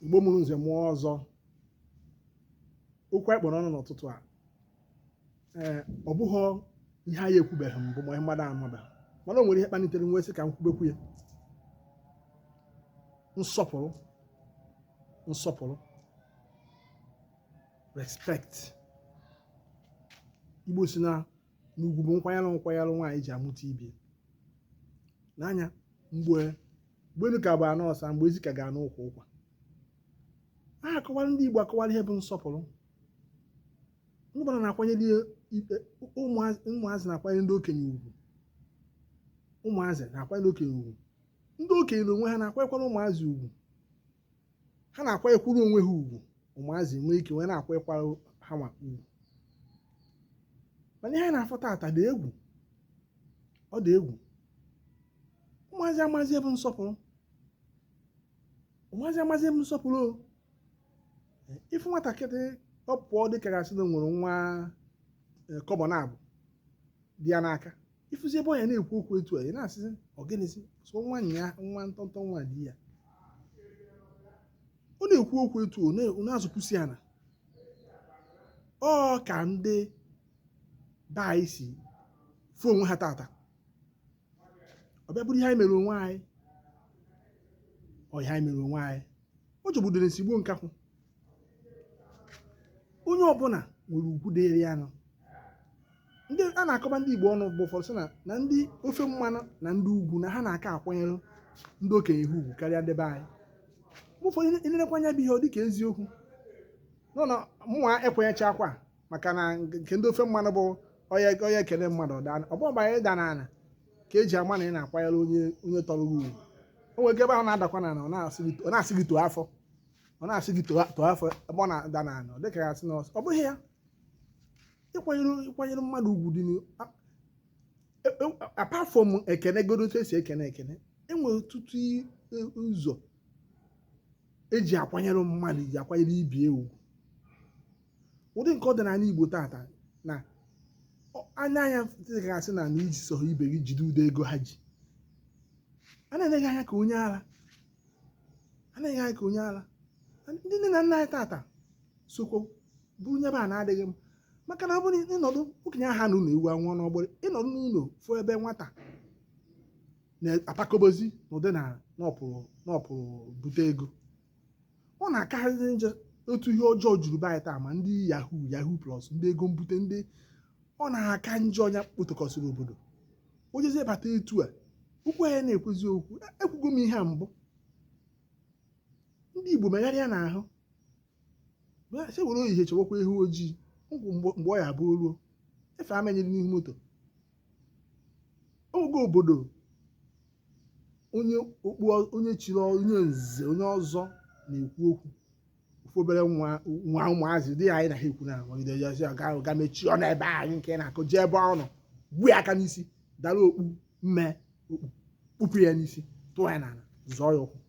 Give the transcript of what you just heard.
igbo mụrụ nze mụọ ọzọ okwu anyị kpụ n'ọnụ n'ụtụtụ a ee ọ bụghị ihe anyị ekwubeghị mbụ ma ihe mmadụ amabeghị mana o nwere ihe kpalitere m wee sị ka m kwubekwu ya nsọpụrụ nsọpụrụ respect igbo sị na na ugwu bụ nkwanyere nkwanyere nwaanyị ji amụta ibe nya mgbe mgbe elu ka bụ ana ọsa mgbe ezi ka ga n'ukwu ụkwa a akọwara ndị Igbo akọwara ihe bụ nsọpụrụ ndị gbara na-akwanyere ikpe ụmụazị na-akwanyere ndị okenye ugwu ụmụazị na-akwanyere okenye ugwu ndị okenye na onwe ha na-akwanyekwara ụmụazị ugwu ha na-akwanyekwuru onwe ha ugwu ụmụazị nwee ike wee na-akwanyekwara ha nwa ugwu mana ihe anyị na-afụ tata dị egwu ọ dị egwu ụmụazị amazi ihe bụ nsọpụrụ ụmụazị amazi ihe bụ nsọpụrụ o ị fụ nwatakịrị ọ pụọ dịka a ga-asị na o nwere nwa e, kọbọ naabọ dị ya n'aka ị fụzi ebe ọ ya na-ekwu okwu etu a ị na-asịzi ọ gịnịzi sọ nwa nya nwa ntọntọ nwa dị ya ọ na-ekwu okwu etu ọ na-azụpụsi ana ọ ka ndị be anyị si fụ onwe ha tata ọ bịa bụrụ ihe anyị mere onwe anyị ọ ihe anyị mere onwe anyị ọ jọgburu udele sigbuo nkakwụ onye ọbụla nwere ugwu dịrị ya nọ ndị a na-akọba ndị Igbo ọnụ bụ ụfọdụ sị na na ndị ofe mmanụ na ndị ugwu na ha na-aka akwanyere ndị okenye ha ugwu karịa ndị be anyị mgbe ụfọdụ i nerukwa anya bụ ihe ọ dịka eziokwu mana mụnwa ekwenyechaakwa maka na nke ndị ofe mmanụ bụ ọ ya ọ ya ekele mmadụ ọ daa ọ bụghị mgbe anyị da n'ala ka eji ama na ị na-akwanyere onye onye tọrọ gị ugwu o nwere ike ebe ahụ ọ na-adakwa n'ala ọ na-asị gị- ọ na-asị gị too afọ ọ na-asị gị too too afọ ebe ọ na-ada n'ala ọ dịka ya asị na ọsọ ọ bụghị ya ịkwanyere ịkwanyere mmadụ ugwu dị n'ihu a- e- e- apart from ekene godo otu esi ekene ekene enwere ọtụtụ i- e- ụzọ eji akwanyere mmadụ ji akwanyere ibe ugwu ụdị nke ọ dị n'ala Igbo tata na anya anya dịgasị na na iji sọrọ ibe gị jide ụdị ego ha ji a na-ene gị anya ka onye ara a na-ene gị anya ka onye ara ndị nne na nna anyị tata sokwa bụrụ nyebe a na-adịghị mma maka na ọ bụrụ ị nọdụ okenye aha anọ n'ụlọ ewu anwụọ n'ọgbụrị ị nọdụ n'ụlọ fụ ebe nwata na-atakobozi n'ụdị na na ọ pụrụ bute ego ọ na-akarịzi njọ otu ihe ọjọọ juru be anyị taa ma ndị yahoo yahoo plus ndị ego mbute ndị ọ na-aka njọ onye kpotokọsịrị obodo o jezie bata etu a okwu ya na-ekwezi okwu e, ekwugo m ihe a mbụ ndị igbo megharịa n'ahụ sị were ehihie chọwakwa ewu ojii mgbe ọ ya-abụ o ruo ife a menyere n'ihu moto oge obodo onye okpu onye chiri onye nze onye ọzọ na-ekwu okwu ofu obere nwa nwa ụmụazị ndị anyị na ha ekwu na nwagide jezi ọga ahụ ga mechie ọnụ be anyị nke na-akụ jee ebe ọ nọ gbuo ya aka n'isi dara okpu mme okpu kpụpụ ya n'isi tụọ ya n'ala zọọ ya ụkwụ